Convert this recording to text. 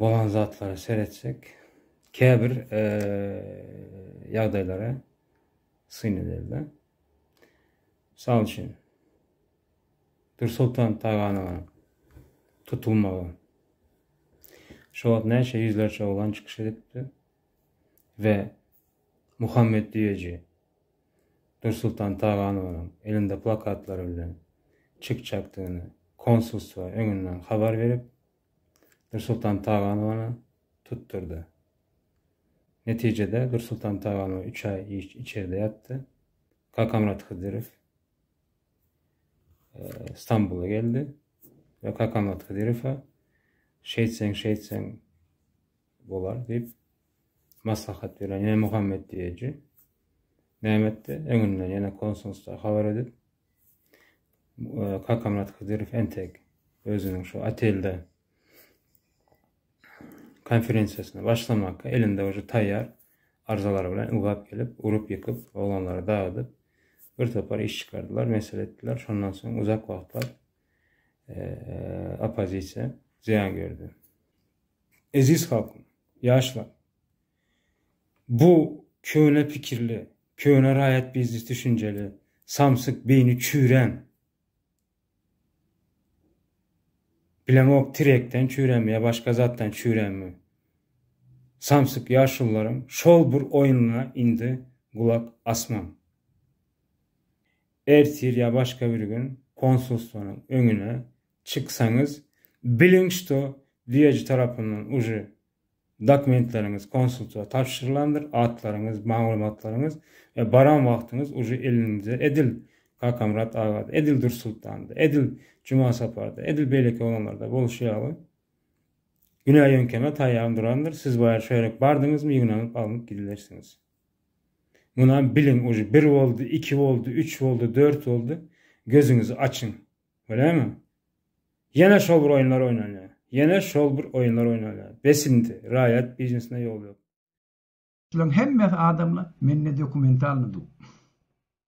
bolan zatlara seretsek, käbir ýagdaýlara syn edeli. Mysal üçin, Dursultan Taganyň tutulmagy. Şo wagt näçe ýüzlerçe oglan çykyş edipdi we Muhammet Düýeji Dursultan Taganyň elinde plakatlary bilen çykjakdygyny konsulstwa öňünden habar berip, Nursultan Taganowany tutdurdy. Netijede Nursultan Taganow üç aý içerde ýatdy. Kakamyrat Hydyrow e, Stambula geldi we Kakamyrat Hydyrowa şeýtseň şeýtseň bolar diýip maslahat beren ýene Muhammet diýeji Mehmetde öňünden ýene konsulsta habar edip Kakamyrat Hydyrow entek özüniň şu otelde konferensiýasyna başlamaka elinde uje taýýar arzalary bilen ugrap gelip, urup-ýykyp, oglanlary dagydyp, bir topar iş çykardylar, mesele etdiler. Şondan soň uzak wagtlap oppozisiýa zyýan gördi. Eziz halkym, ýaşlar! Bu köne pikirli, köne raýat biznes düşünjeli, samsyk, beýni çüýrän, bilemok tirekden çüýränmi ýa başga zatdan çüýränmi, samsyk ýaşulularyň şol bir oýnuna indi gulak asmaň. Ertir ýa başga bir gün konsulstwonyň öňüne çyksaňyz, biliň, şto, düýeji tarapyndan uje Dokumentleriňiz konsultwa tabşyrylandyr, atlaryňyz, maglumatlaryňyz we baran wagtyňyz uje elinize edil Kakamyrat agada, edil Dursultanda, edil Jumasaparda, edil beýleki oglanlarda bolşy ýaly, günä ýöňkeme taýýar durandyr, siz bu ýere şöýrek bardyňyzmy ýygnanyp alnyp gidilersiňiz. Munam biliň, uje bir boldy, iki boldy, üç boldy, dört boldy, gözüňizi açyň. Görýäňmi? Ýene şol bir oýunlar oýnalýar. Ýene şol bir oýunlar oýnalýar. Bes indi. Raýat biznesine ýol ýok. Şulaň hemmesi adamlar, mende dokumentalny du.